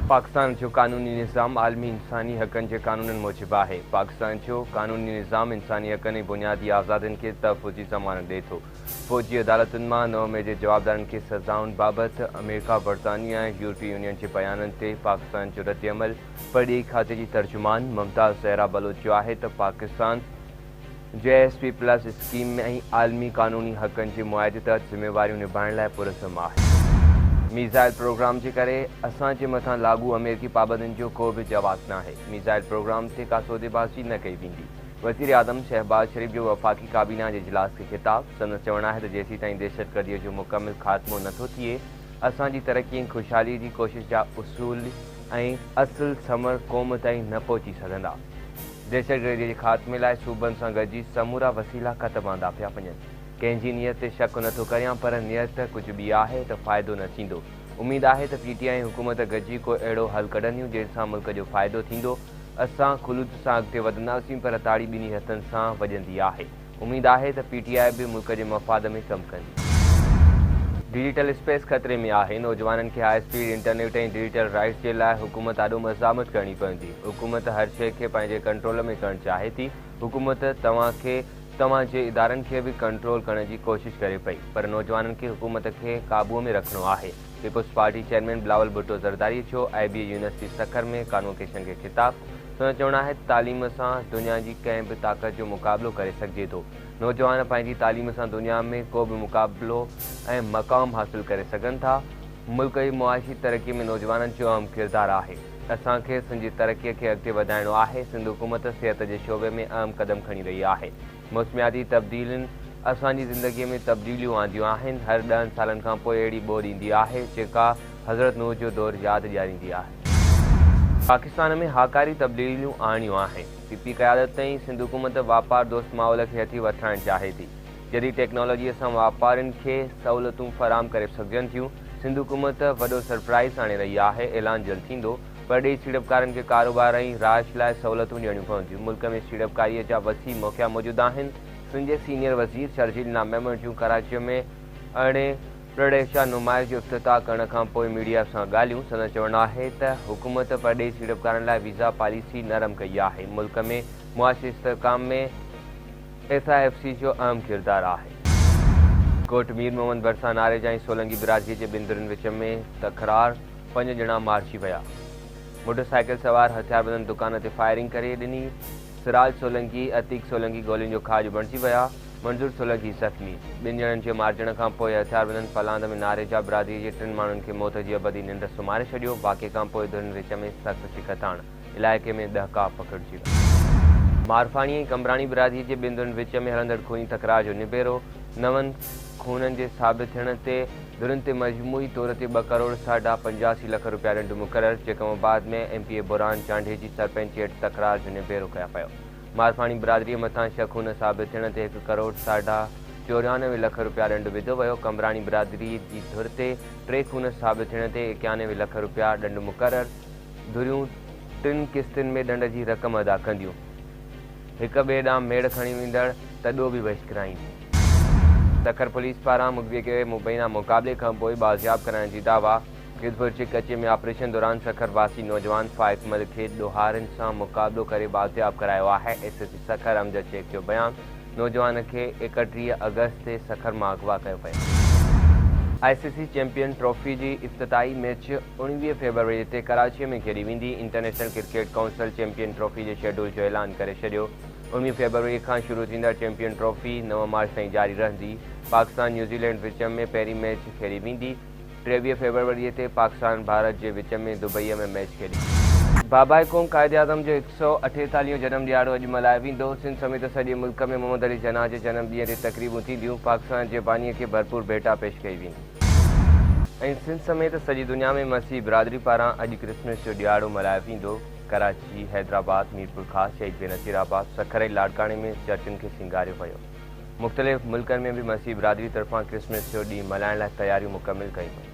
پاڪستان جو قانوني نظام عالمي انساني حقن جي قانونن موجب آهي. پاڪستان جو قانوني نظام انساني حقن ۽ بنيادي آزادين کي تحفظ جي ضمانت ڏئي ٿو. فوجي عدالتن مان نو مئي جي جوابدارن کي سزائن بابت آمريڪا، برطانيه ۽ يورپي يونين جي بيانن تي پاڪستان جو ردعمل پرڏيهي کاتي جي ترجمان ممتاز زهرا بلوچ جو آهي ته Pakistan G S P plus scheme ۾ ۽ عالمي قانوني حقن جي معاهدي تحت ذميواريون نڀائڻ لاء پرعزم آهي. ميزائل پروگرام جي ڪري اسان جي مٿان لاڳو آمريڪي پابندين جو ڪو به جواز ناهي، ميزائل پروگرام تي ڪا سوديبازي نه ڪئي ويندي، وزيراعظم شهباز شريف جو وفاقي ڪابينا جي اجلاس کي خطاب، سندس چوڻ آهي ته جيسيتائين دهشتگرديء جو مڪمل خاتمو نه ٿو ٿئي، اسان جي ترقي ۽ خوشحاليء جي ڪوشش جا اصول ۽ اصل ثمر قوم تائين نه پهچي سگهندا. دهشتگردي جي خاتمي لاء صوبن سان گڏجي سمورا وسيلا کت باندا پيا وڃن، ڪنهن جي نيت تي شڪ نه ٿو ڪريان پر نيت ڪجهه ٻي آهي ته فائدو نه ٿيندو، اميد آهي ته پي ٽي آء ۽ حڪومت گڏجي ڪو اهڙو حل ڪڍنديون جنهن سان ملڪ جو فائدو ٿيندو، اسان خلوص سان اڳتي وڌنداسين پر تاڙي ٻنهي هٿن سان وڄندي آهي. اميد آهي ته پي ٽي آء به ملڪ جي مفاد ۾ ڪم ڪندي. ڊيجيٽل اسپيس خطري ۾ آهي، نوجوانن کي high speed internet ۽ digital rights جي لاء حڪومت آڏو مزاحمت ڪرڻي پوندي، حڪومت هر شيء کي پنهنجي ڪنٽرول ۾ ڪرڻ چاهي ٿي، حڪومت توهان کي توهان جي ادارن کي به ڪنٽرول ڪرڻ جي ڪوشش ڪري پئي پر نوجوانن کي حڪومت کي قابو ۾ رکڻو آهي. Peoples party chairman Bilawal Bhutto Zardari جو I B A university Sukkur ۾ convocation کي خطاب، سندس چوڻ آهي ته تعليم سان دنيا جي ڪنهن به طاقت جو مقابلو ڪري سگهجي ٿو، نوجوان پنهنجي تعليم سان دنيا ۾ ڪو به مقابلو ۽ مقام حاصل ڪري سگهن ٿا، ملڪ جي معاشي ترقي ۾ نوجوانن جو اهم ڪردار آهي، اسان کي سنڌ جي ترقي کي اڳتي وڌائڻو آهي، سنڌ حڪومت صحت جي شعبي ۾ اهم قدم کڻي رهي آهي. موسمياتي تبديلين اسان جي زندگيء ۾ تبديليون آنديون آهن. هر ڏهن سالن کان پوء اهڙي ٻوڏ ايندي آهي، جيڪا حضرت نوح جو دور ياد ڏياريندي آهي. پاڪستان ۾ هاڪاري تبديليون آڻيون آهن. پي پي قيادت تائين سنڌ حڪومت واپار دوست ماحول کي هٿي وٺرائڻ چاهي ٿي. جديد ٽيڪنالاجيء سان واپارين کي سهولتون فراهم ڪري سگهجن ٿيون. سنڌ حڪومت وڏو سرپرائيز آڻي رهي آهي، اعلان جلد ٿيندو. پرڏيهي سيڙپڪارن کي ڪاروبار ۽ رهائش لاء سهولتون ڏيڻيون پونديون، ملڪ ۾ سيڙپڪاريء جا وسيع موقعا موجود آهن، سنڌ جي سينيئر وزير شرجيل نام ميمڻ جون ڪراچيء ۾ ارڙهين پرڏيهچا نمائش جو افتتاح ڪرڻ کان پوء ميڊيا سان ڳالهيون، سندن چوڻ آهي ته حڪومت پرڏيهي سيڙپڪارن لاء ويزا پاليسي نرم ڪئي آهي، ملڪ ۾ معاشي استحڪام ۾ ايف آء ايف سي جو اهم ڪردار آهي. ڪوٽ مير محمد ڀرسان ناريجا ۽ سولنگي برادريء جي ٻن ڌرين وچ ۾ تڪرار. پنج ڄڻا مارجي ويا. موٽر سائيڪل سوار هٿياربندن دڪان تي فائرنگ ڪري ڏني، سراج سولنگي، عتيق سولنگي گولين جو کاڄ بڻجي ويا، منظور سولنگي زخمي، ٻن ڄڻن جي مارجڻ کانپوء هٿياربندن پلاند ۾ ناريجا برادري جي ٽن ماڻهن کي موت جي ابدي ننڊ سمهاري ڇڏيو، واقعي کانپوء ڌرين وچ ۾ سخت ڇڪتاڻ، علائقي ۾ ڏهڪاء پکڙجي ويو. مارفاڻي ۽ قمبراڻي برادري جي ٻن ڌرين وچ ۾ هلندڙ خوني تڪرار جو نبيرو نون خونن جي ثابت ٿيڻ تي، ڌرين تي مجموعي طور تي ٻه ڪروڙ ساڍا پنجاسي لک رپيا رنڊ مقرر، جيڪا مفاد ۾ ايم پي اي بحران چانڊهي جي سرپنچ هيٺ تڪرار جو نبيرو ڪيا پيو. مارفاڻي برادريء مٿان شق هن ثابت ٿيڻ تي هڪ ڪروڙ ساڍا چوريانوي لک رپيا رنڊ وڌو ويو، قمبراڻي برادريء جي ڌر تي ٽي خون ثابت ٿيڻ تي ايڪيانوي لک رپيا ڏنڊ مقرر، ڌريون ٽن قسطن ۾ ڏنڊ جي رقم ادا ڪنديون، هڪ ٻئي ڏانهن ميڙ کڻي ويندڙ تڏو به بهشڪرائينديون. تکر پوليس پاران مغوي کي مبينا مقابلي کانپوء بازياب ڪرائڻ جي دعويٰ، جوڌپور جي ڪچي ۾ آپريشن دوران سکر واسي نوجوان فائق مل کي ڏوهارين سان مقابلو ڪري بازياب ڪرايو آهي، S S P Sukkur Amjad Shaikh جو بيان، نوجوان کي ايڪٽيهه آگسٽ تي سکر مان اغوا ڪيو ويو. آء سي سي چيمپيئن ٽرافي جي افتتاحي ميچ اوڻويهه فيبروري تي ڪراچي ۾ کيڏي ويندي، international cricket council champion trophy جي شيڊول جو اعلان ڪري ڇڏيو. اوڻيهه فيبروري کان شروع ٿيندڙ چيمپيئن ٽرافي نو مارچ تائين جاري رهندي، پاڪستان نيوزيلينڊ وچ ۾ پهرين ميچ کيڏي ويندي، ٽيويهه فيبروري تي پاڪستان ڀارت جي وچ ۾ دبئي ۾ ميچ کيڏي ويندي. بابائي قوم قائداعظم جو هڪ سؤ اٺيتاليهون هون جنم ڏهاڙو اڄ ملهايو ويندو، سنڌ سميت سڄي ملڪ ۾ محمد علي جناح جي جنم ڏينهن تي تقريبون ٿينديون، پاڪستان جي بانيء کي ڀرپور ڀيٽا پيش ڪئي ويندي. ۽ سنڌ سميت سڄي دنيا ۾ مسيحي برادري پاران اڄ ڪرسمس جو ڏهاڙو ملهايو ويندو، ڪراچي، حيدرآباد، ميرپورخاص، شهيد بينظير آباد، سکر ۽ لاڙڪاڻي ۾ چرچن کي سينگاريو ويو. مختلف ملڪن ۾ به مسيحي برادري طرفان ڪرسمس جو ڏينهن ملهائڻ لاء تياريون مڪمل ڪيون ويون.